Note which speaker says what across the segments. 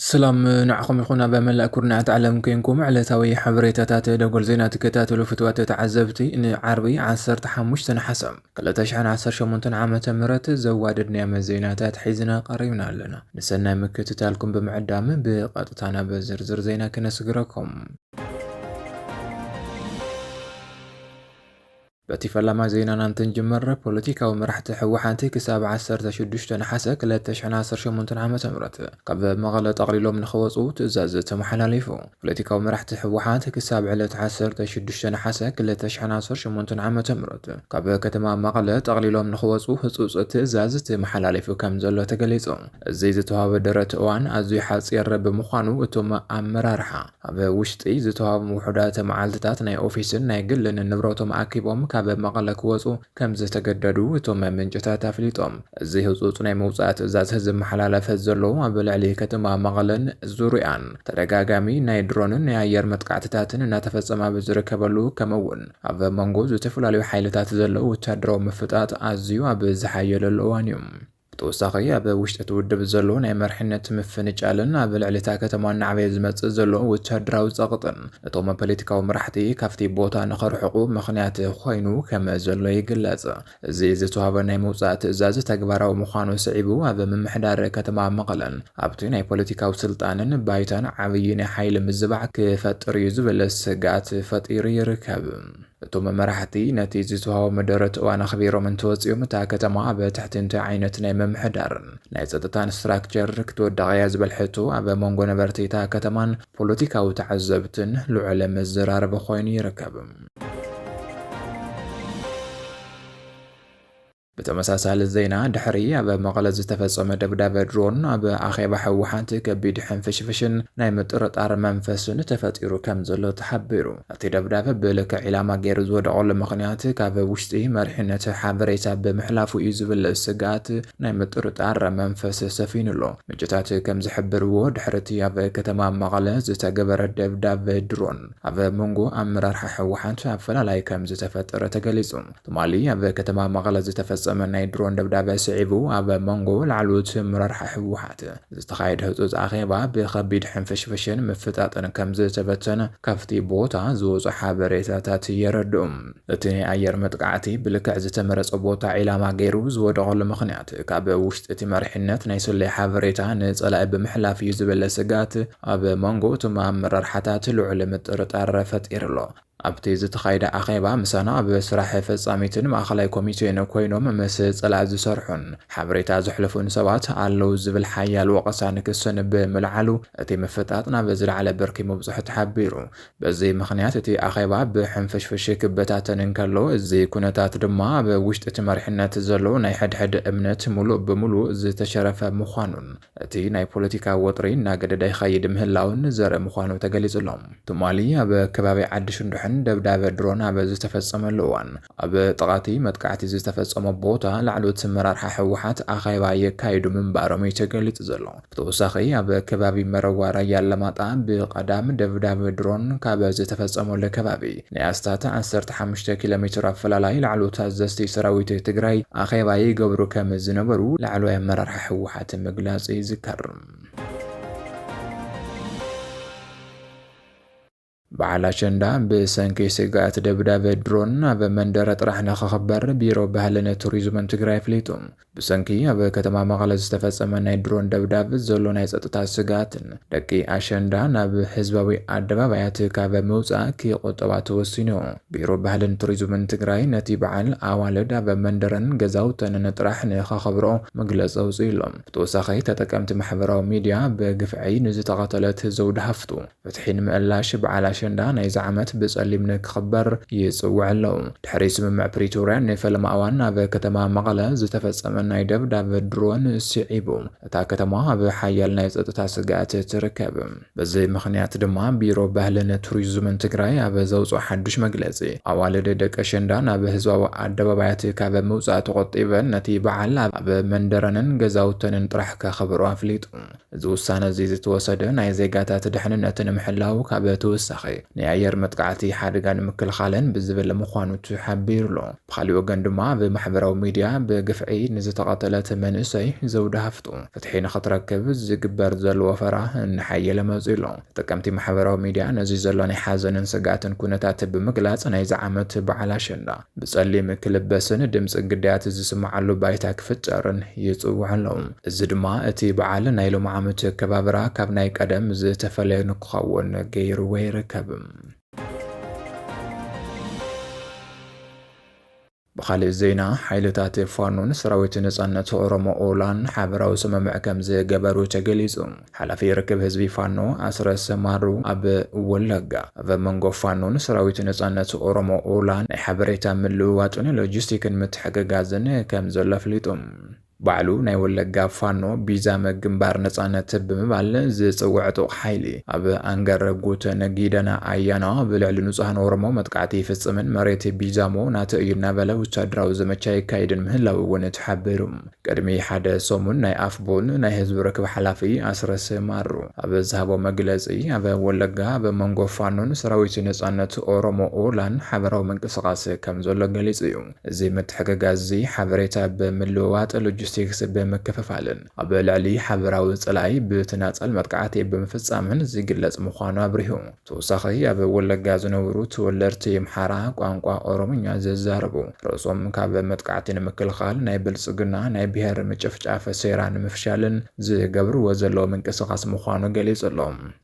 Speaker 1: ስላም ንዓኹም ይኹን ኣብ መላእ ኩርናዓት ዓለም ኮንኩም ዕለታዊ ሓበሬታታት ደጎል ዜና ትከታተሉ ፍትዋት ተዓዘብቲ ንዓርቢ 15 ነሓሰ ክልተ ሽሕን ዓሰርተ ሸሞንተን ዓመተ ምህረት ዘዋድድ ናይ ዓመት ዜናታት ሒዝና ቀሪብና ኣለና። ንሰናይ ምክትታልኩም ብምዕዳም ብቐጥታ ናብ ዝርዝር ዜና ክነስግረኩም። በቲ ፈላማይ ዜናና እንትንጅምር ፖለቲካዊ መራሕቲ ህወሓት ክሳብ ዓሰርተ ሽዱሽተ ነሓሰ ክልተ ሽሕን ዓሰርተ ሸሞንተን ዓመተ ምህረት ካብ መቐለ ጠቕሊሎም ንኽወፁ ትእዛዝ ተመሓላሊፉ። ፖለቲካዊ መራሕቲ ህወሓት ክሳብ ዕለት ዓሰርተ ሽዱሽተ ነሓሰ ክልተ ሽሕን ዓሰርተ ሸሞንተን ዓመተ ምህረት ካብ ከተማ መቐለ ጠቕሊሎም ንኽወፁ ህፁፅ ትእዛዝ ተመሓላሊፉ ከም ዘሎ ተገሊፁ። እዚ ዝተውሃበ ደረት እዋን ኣዝዩ ሓፂር ብምዃኑ እቶም ኣመራርሓ ኣብ ውሽጢ ዝተውሃቦም ውሑዳት መዓልትታት ናይ ኦፊስን ናይ ግልን ንብረቶም ኣኪቦም ካብ መቐለ ክወፁ ከም ዝተገደዱ እቶም ምንጭታት ኣፍሊጦም። እዚ ህፁፅ ናይ ምውፃእ ትእዛዝ ዝመሓላለፍ ዘሎ ኣብ ልዕሊ ከተማ መቐለን ዙርይኣን ተደጋጋሚ ናይ ድሮንን ናይ ኣየር መጥቃዕትታትን እናተፈጸመ ኣብ ዝርከበሉ ከምኡ እውን ኣብ መንጎ ዝተፈላለዩ ሓይልታት ዘሎ ወታደራዊ ምፍጣጥ ኣዝዩ ኣብ ዝሓየለሉ እዋን እዩ። ብተወሳኺ ኣብ ውሽጢ እቲ ውድብ ዘሎ ናይ መርሕነት ምፍንጫልን ኣብ ልዕሊ እታ ከተማ እናዕበየ ዝመጽእ ዘሎ ወታደራዊ ጸቕጥን እቶም ፖለቲካዊ መራሕቲ ካብቲ ቦታ ንኸርሕቑ ምኽንያት ኮይኑ ከም ዘሎ ይግለጽ። እዚ ዝተዋህበ ናይ ምውጻእ ትእዛዝ ተግባራዊ ምዃኑ ስዒቡ ኣብ ምምሕዳር ከተማ መቐለን ኣብቲ ናይ ፖለቲካዊ ስልጣንን ባይታን ዓብዪ ናይ ሓይሊ ምዝባዕ ክፈጥር እዩ ዝብል ስግኣት ፈጢሩ ይርከብ። እቶም መራሕቲ ነቲ ዝተዋህቦም ደረት እዋን ኣኽቢሮም እንተወጺኦም እታ ከተማ ኣብ ትሕቲ እንታይ ዓይነት ናይ ምምሕዳርን ናይ ጸጥታን ስትራክቸር ክትወድቕ እያ ዝብል ሕቶ ኣብ መንጎ ነበርቲ እታ ከተማን ፖለቲካዊ ተዓዘብትን ልዑል መዘራረቢ ኮይኑ ይርከብ። ብተመሳሳሊ ዜና ድሕሪ ኣብ መቐለ ዝተፈጸመ ደብዳበ ድሮን ኣብ ኣኼባ ህወሓት ከቢድ ሕንፍሽፍሽን ናይ ምጥርጣር መንፈስን ተፈጢሩ ከም ዘሎ ተሓቢሩ። እቲ ደብዳበ ብልክዕ ዒላማ ገይሩ ዝወደቐሉ ምኽንያት ካብ ውሽጢ መሪሕነት ሓበሬታ ብምሕላፉ እዩ ዝብል ስግኣት ናይ ምጥርጣር መንፈስ ሰፊኑ ኣሎ። ምንጭታት ከም ዝሕብርዎ ድሕሪ እቲ ኣብ ከተማ መቐለ ዝተገበረ ደብዳበ ድሮን ኣብ መንጎ ኣመራርሓ ህወሓት ኣፈላላይ ከምዝተፈጠረ ተገሊፁ። ትማሊ ኣብ ከተማ መቐለ ዝተፈፀመ ናይ ድሮን ደብዳበ ስዒቡ ኣብ መንጎ ላዕለዎት ኣመራርሓ ህወሓት ዝተኻየደ ህፁፅ ኣኼባ ብኸቢድ ሕንፍሽፍሽን ምፍጣጥን ከምዝተበተነ ካብቲ ቦታ ዝወፁ ሓበሬታታት የረድኡ። እቲ ናይ ኣየር መጥቃዕቲ ብልክዕ ዝተመረፀ ቦታ ዒላማ ገይሩ ዝወደቐሉ ምኽንያት ካብ ውሽጢ እቲ መሪሕነት ናይ ስለያ ሓበሬታ ንፀላኢ ብምሕላፍ እዩ ዝብል ስግኣት ኣብ መንጎ እቶም ኣመራርሓታት ልዑል ምጥርጣር ፈጢሩ'ሎ። ኣብቲ ዝተኻየደ ኣኼባ ምሳና ኣብ ስራሕ ፈጻሚትን ማእከላይ ኮሚቴን ኮይኖም ምስ ጸላኢ ዝሰርሑን ሓበሬታ ዘሕልፉን ሰባት ኣለዉ ዝብል ሓያል ወቐሳን ክስን ብምልዓሉ እቲ ምፍጣጥ ናብ ዝለዓለ ብርኪ ምብጽሑ ተሓቢሩ። በዚ ምኽንያት እቲ ኣኼባ ብሕንፍሽፍሽ ክበታተን እንከሎ፣ እዚ ኩነታት ድማ ኣብ ውሽጢ እቲ መሪሕነት ዘሎ ናይ ሕድሕድ እምነት ምሉእ ብምሉእ ዝተሸረፈ ምዃኑን እቲ ናይ ፖለቲካ ወጥሪ እናገደደ ይኸይድ ምህላዉን ዘርኢ ምዃኑ ተገሊጹ'ሎ። ትማሊ ኣብ ከባቢ ዓዲ ሽንዱሕን ደብዳብ ድሮን ኣብ ዝተፈጸመሉ እዋን፣ ኣብ ጥቓ'ቲ መጥቃዕቲ ዝተፈጸሞ ቦታ ላዕለዎት ኣመራርሓ ህወሓት ኣኼባ የካይዱ ምንባሮም'ዩ ተገሊጹ ዘሎ። ብተወሳኺ ኣብ ከባቢ መረዋ ራያ ኣላማጣ ብቐዳም ደብዳብ ድሮን ካብ ዝተፈጸመሉ ከባቢ፣ ናይ ኣስታት ዓሰርተ ሓሙሽተ ኪሎ ሜትር ኣፈላላይ ላዕለዎት ኣዘዝቲ ሰራዊት ትግራይ ኣኼባ ይገብሩ ከም ዝነበሩ ላዕለዋይ ኣመራርሓ ህወሓት ምግላፁ ይዝከር። በዓል ኣሸንዳ ብሰንኪ ስግኣት ደብዳብ ድሮን ኣብ መንደረ ጥራሕ ንክኽበር ቢሮ ባህልን ቱሪዝምን ትግራይ ኣፍሊጡ። ብሰንኪ ኣብ ከተማ መቐለ ዝተፈጸመ ናይ ድሮን ደብዳብ ዘሎ ናይ ጸጥታ ስግኣትን ደቂ ኣሸንዳ ናብ ህዝባዊ ኣደባባያት ካብ ምውጻእ ክቑጠባ ተወሲኑዮ። ቢሮ ባህልን ቱሪዝምን ትግራይ ነቲ በዓል ኣዋልድ ኣብ መንደረን ገዛውተንን ጥራሕ ንኸኸብርኦ መግለጺ ኣውጺኡሎ። ብተወሳኺ ተጠቀምቲ ማሕበራዊ ሚዲያ ብግፍዒ ንዝተቐተለት ዘውዲ ሃፍቱ፣ ፍትሒ ንምእላሽ በዓል ኣሸንዳ ናይዚ ዓመት ብጸሊም ንክኽበር ይጽውዕ ኣሎ። ድሕሪ ስምምዕ ፕሪቶርያ ንፈለማ እዋን ኣብ ከተማ መቐለ ዝተፈጸመ ናይ ደብዳብ ድሮን ስዒቡ እታ ከተማ ኣብ ሓያል ናይ ጸጥታ ስግኣት ትርከብ። በዚ ምኽንያት ድማ ቢሮ ባህልን ቱሪዝምን ትግራይ ኣብ ዘውጽኦ ሓዱሽ መግለጺ ኣዋልድ ደቂ ኣሸንዳ ናብ ህዝባዊ ኣደባባያት ካብ ምውጻእ ተቖጢበን ነቲ በዓል ኣብ መንደረንን ገዛውተንን ጥራሕ ከኽብርኦ ኣፍሊጡ። እዚ ውሳነ እዚ ዝተወሰደ ናይ ዜጋታት ድሕንነት ንምሕላው ካብ ተወሳኺ ናይ ኣየር መጥቃዕቲ ሓደጋ ንምክልኻልን ብዝብል ምዃኑ ተሓቢሩ ኣሎ። ብኻሊእ ወገን ድማ ኣብ ማሕበራዊ ሚድያ ብግፍዒ ንዝተቐተለት መንእሰይ ዘውዲ ሃፍቱ ፍትሒ ንኽትረክብ ዝግበር ዘሎ ወፈራ እናሓየለ መፂኡ ኣሎ። ተጠቀምቲ ማሕበራዊ ሚድያ ነዚ ዘሎ ናይ ሓዘንን ስግኣትን ኩነታት ብምግላፅ ናይዚ ዓመት በዓል ኣሸንዳ ብጸሊም ክልበስን ድምጺ ግዳያት ዝስምዓሉ ባይታ ክፍጠርን ይጽውዑ ኣለዉ። እዚ ድማ እቲ በዓል ናይ ሎሚ ዓመት ኣከባብራ ካብ ናይ ቀደም ዝተፈለየ ንክኸውን ገይርዎ ይርከብ። ብኻልእ ዜና ሓይልታት ፋኖን ሰራዊት ነጻነት ኦሮሞ ኦላን ሓበራዊ ስምምዕ ከምዝገበሩ ተገሊጹ። ሓላፊ ርክብ ህዝቢ ፋኖ ኣስረስ ማሩ ኣብ ወለጋ፣ ኣብ መንጎ ፋኖን ሰራዊት ነጻነት ኦሮሞ፣ ኦላ፣ ናይ ሓበሬታ ምልውዋጥን ሎጂስቲክን ምትሕግጋዝን ከም ዘሎ ኣፍሊጡ። ባዕሉ ናይ ወለጋ ፋኖ ቢዛመ ግንባር ነጻነት ብምባል ዝጽውዕ ዕጡቕ ሓይሊ፣ ኣብ ኣንገረ ጉተን ጊደና ኣያና ኣብ ልዕሊ ንጹሃን ኦሮሞ መጥቃዕቲ ይፍጽምን መሬት ቢዛሞ ናተይ እዩ እናበለ ወተሃደራዊ ዘመቻ የካይድን ምህላዉ'ውን ተሓቢሩ። ቅድሚ ሓደ ሰሙን ናይ ኣፍቡን ናይ ህዝቢ ርክብ ሓላፊ ኣስረስ ማሩ ኣብ ዝሃቦ መግለጺ፣ ኣብ ወለጋ ኣብ መንጎ ፋኖን ሰራዊት ነጻነት ኦሮሞ ኦላን ሓበራዊ ምንቅስቓስ ከም ዘሎ ገሊጹ እዩ። እዚ ምትሕግጋዝ'ዚ ሓበሬታ ብምልውዋጥ፣ ሎጂስቲክስ ብምክፍፋልን ኣብ ልዕሊ ሓበራዊ ጸላኢ ብተናጸል መጥቃዕቲ ብምፍጻምን ዝግለጽ ምዃኑ ኣብሪሁ። ተወሳኺ ኣብ ወለጋ ዝነብሩ ተወለድቲ የምሓራ ቋንቋ ኦሮምኛ ዘዛርቡ ርእሶም ካብ መጥቃዕቲ ንምክልኻል ናይ ብልጽግና ናይ ብሄር ምጭፍጫፍ ሴራ ንምፍሻልን ዝገብርዎ ዘለዉ ምንቅስቓስ ምዃኑ ገሊጹ ኣሎ።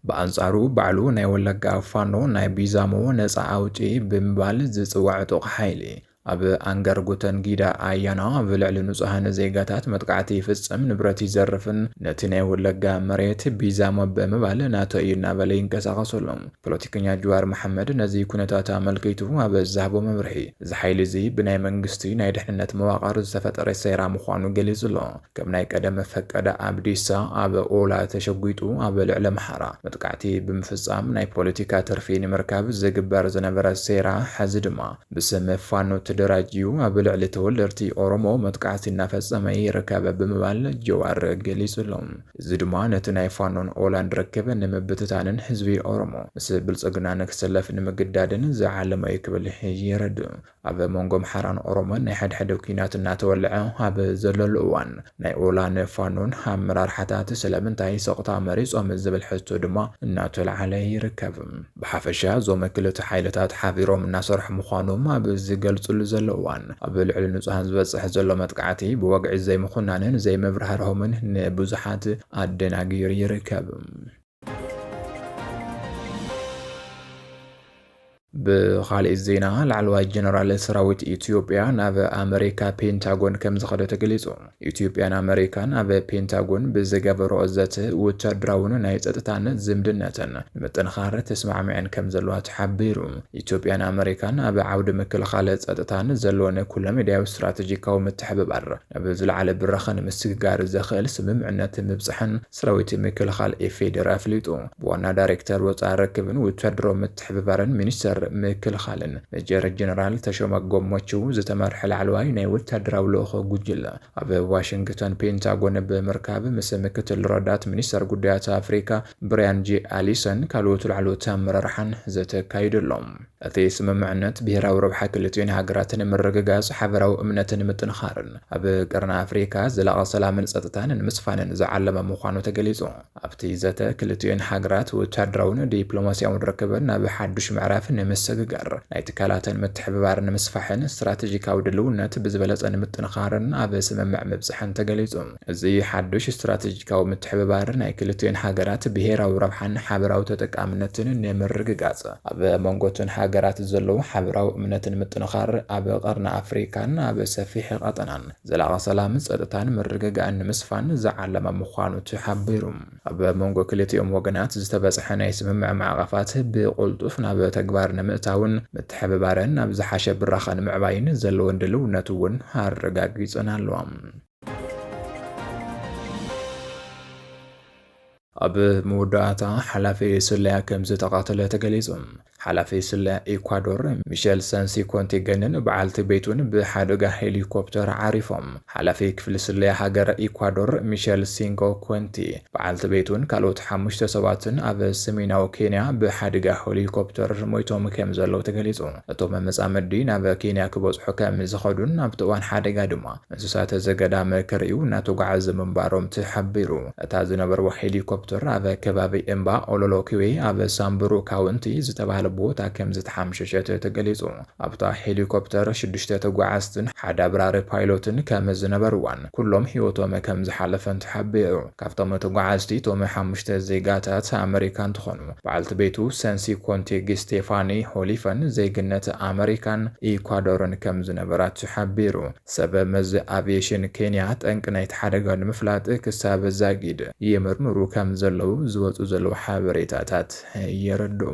Speaker 1: ብኣንጻሩ ባዕሉ ናይ ወለጋ ፋኖ ናይ ቢዛሞ ነጻ ኣውጪ ብምባል ዝጽዋዕ ዕጡቕ ሓይሊ፣ ኣብ ኣንጋርጉተን ጊዳ ኣያና ኣብ ልዕሊ ንጹሃን ዜጋታት መጥቃዕቲ ይፍጽም፣ ንብረት ይዘርፍን ነቲ ናይ ወለጋ መሬት ቢዛሞ ብምባል ናቶ እዩ እናበለ ይንቀሳቐስ ኣሎ። ፖለቲከኛ ጅዋር መሓመድ ነዚ ኩነታት ኣመልኪቱ ኣብ ዝሃቦ መብርሂ፣ እዚ ሓይሊ እዚ ብናይ መንግስቲ ናይ ድሕንነት መዋቕር ዝተፈጠረ ሴራ ምዃኑ ገሊጹ ኣሎ። ከም ናይ ቀደም ፈቀደ ኣብዲሳ ኣብ ኦላ ተሸጒጡ ኣብ ልዕሊ ኣምሓራ መጥቃዕቲ ብምፍጻም ናይ ፖለቲካ ትርፊ ንምርካብ ዝግበር ዝነበረ ሴራ፣ ሕዚ ድማ ብስም ፋኖ ተደራጅዩ ኣብ ልዕሊ ተወለድቲ ኦሮሞ መጥቃዕቲ እናፈፀመ ይርከብ ብምባል ጀዋር ገሊፁ ኣሎ። እዚ ድማ ነቲ ናይ ፋኖን ኦላን ርክብ ንምብትታንን ህዝቢ ኦሮሞ ምስ ብልፅግና ንክስለፍ ንምግዳድን ዝዓለመ እዩ ክብል የረድእ። ኣብ መንጎ ኣምሓራን ኦሮሞን ናይ ሓድሕድ ኲናት እናተወልዐ ኣብ ዘለሉ እዋን ናይ ኦላን ፋኖን ኣመራርሓታት ስለምንታይ ሰቕታ መሪፆም ዝብል ሕቶ ድማ እናተልዓለ ይርከብ። ብሓፈሻ እዞም ክልተ ሓይልታት ሓቢሮም እናሰርሑ ምዃኖም ኣብ ዝገልፅሉ ዘለዉ እዋን ኣብ ልዕሊ ንፁሃን ዝበፅሕ ዘሎ መጥቃዕቲ ብወግዒ ዘይምኹናንን ዘይምብርሃርሆምን ንብዙሓት ኣደናጊሩ ይርከብ። ብኻሊእ ዜና ላዕለዋይ ጀነራል ሰራዊት ኢትዮጵያ ናብ ኣመሪካ ፔንታጎን ከምዝኸደ ተገሊፁ። ኢትዮጵያን ኣመሪካን ኣብ ፔንታጎን ብዝገበረኦ ዘተ ወታደራውን ናይ ጸጥታን ዝምድነተን ንምጥንኻር ተስማዕሚዐን ከም ዘለዋ ተሓቢሩ። ኢትዮጵያን ኣመሪካን ኣብ ዓውዲ ምክልኻል ጸጥታን ዘለወን ኩለመዳያዊ ስትራቴጂካዊ ምትሕብባር ናብ ዝለዓለ ብራኸ ንምስግጋር ዘኽእል ስምምዕነት ምብጽሐን ሰራዊት ምክልኻል ኢፌዴሪ ኣፍሊጡ። ብዋና ዳይሬክተር ወፃኢ ርክብን ውታደራዊ ምትሕብባርን ሚኒስቴር ምክልኻልን ሜጀር ጀነራል ተሾመ ጎሞችው ዝተመርሐ ላዕለዋይ ናይ ወታደራዊ ልኡኽ ጉጅለ ኣብ ዋሽንግተን ፔንታጎን ብምርካብ ምስ ምክትል ረዳት ሚኒስተር ጉዳያት ኣፍሪካ ብሪያን ጄ ኣሊሰን ካልኦት ላዕለዎት ኣመራርሓን ዘተ ኣካይዱ ኣሎ። እቲ ስምምዕነት፣ ብሄራዊ ረብሓ ክልቲኡን ሃገራት ንምርግጋጽ፣ ሓበራዊ እምነት ንምጥንኻርን ኣብ ቀርኒ ኣፍሪካ ዘላቒ ሰላምን ጸጥታን ንምስፋንን ዝዓለመ ምዃኑ ተገሊጹ። ኣብቲ ዘተ፣ ክልቲኡን ሃገራት ወታደራውን ዲፕሎማስያውን ርክበን ናብ ሓዱሽ ምዕራፍ ንምስግጋር፣ ናይ ትካላተን ምትሕብባር ንምስፋሕን ስትራተጂካዊ ድልውነት ብዝበለጸ ንምጥንኻርን ኣብ ስምምዕ ምብጽሐን ተገሊጹ። እዚ ሓዱሽ ስትራተጂካዊ ምትሕብባር ናይ ክልቲኤን ሃገራት ብሄራዊ ረብሓን ሓበራዊ ተጠቃምነትን ንምርግጋፅ፣ ኣብ መንጎ እተን ሃገራት ዘሎ ሓበራዊ እምነት ንምጥንኻር፣ ኣብ ቐርኒ ኣፍሪካን ኣብ ሰፊሕ ቐጠናን ዘላቒ ሰላም፣ ፀጥታን ምርግጋእን ንምስፋን ዝዓለመ ምዃኑ ተሓቢሩ። ኣብ መንጎ ክልቲኦም ወገናት ዝተበፅሐ ናይ ስምምዕ ማዕቐፋት ብቕልጡፍ ናብ ተግባር ንምእታውን ምትሕብባረን ናብ ዝሓሸ ብራኸ ንምዕባይን ዘለወን ድልውነት እውን ኣረጋጊፀን ኣለዋ። ኣብ መወዳእታ ሓላፊ ስለያ ከም ዝተቓተለ ተገሊጹ። ሓላፊ ስለያ ኢኳዶር ሚሸል ሰንሲ ኮንቲገንን በዓልቲ ቤቱን ብሓደጋ ሄሊኮፕተር ዓሪፎም። ሓላፊ ክፍሊ ስለያ ሃገረ ኢኳዶር ሚሸል ሲንጎ ኮንቲ በዓልቲ ቤቱን ካልኦት ሓሙሽተ ሰባትን ኣብ ሰሜናዊ ኬንያ ብሓደጋ ሄሊኮፕተር ሞይቶም ከም ዘለዉ ተገሊጹ። እቶም መጻምዲ ናብ ኬንያ ክበጽሑ ከም ዝኸዱን ኣብቲ እዋን ሓደጋ ድማ እንስሳት ዘገዳም ክርእዩ እናተጓዓዙ ምንባሮም ተሓቢሩ። እታ ዝነበርዋ ሄሊኮፕተር ኣብ ከባቢ እምባ ኦሎሎኪዌ ኣብ ሳምቡሩ ካውንቲ ዝተባህለ ቦታ ከምዝተሓምሸሸት ተገሊጹ። ኣብታ ሄሊኮፕተር ሽዱሽተ ተጓዓዝትን ሓደ ኣብራሪ ፓይሎትን ከምዝነበርዋን ኩሎም ህይወቶም ከምዝሓለፈን ተሓቢሩ። ካብቶም ተጓዓዝቲ እቶም ሓሙሽተ ዜጋታት ኣመሪካ እንትኾኑ፣ በዓልቲ ቤቱ ሰንሲ ኮንቲግ ስቴፋኒ ሆሊፈን ዜግነት ኣመሪካን ኢኳዶርን ከም ዝነበራ ተሓቢሩ። ሰብ መዚ ኣቪየሽን ኬንያ ጠንቂ ናይቲ ሓደጋ ንምፍላጥ ክሳብ ዛጊድ ይምርምሩ ከም ዘለዉ ዝወጹ ዘለዉ ሓበሬታታት የረድኡ።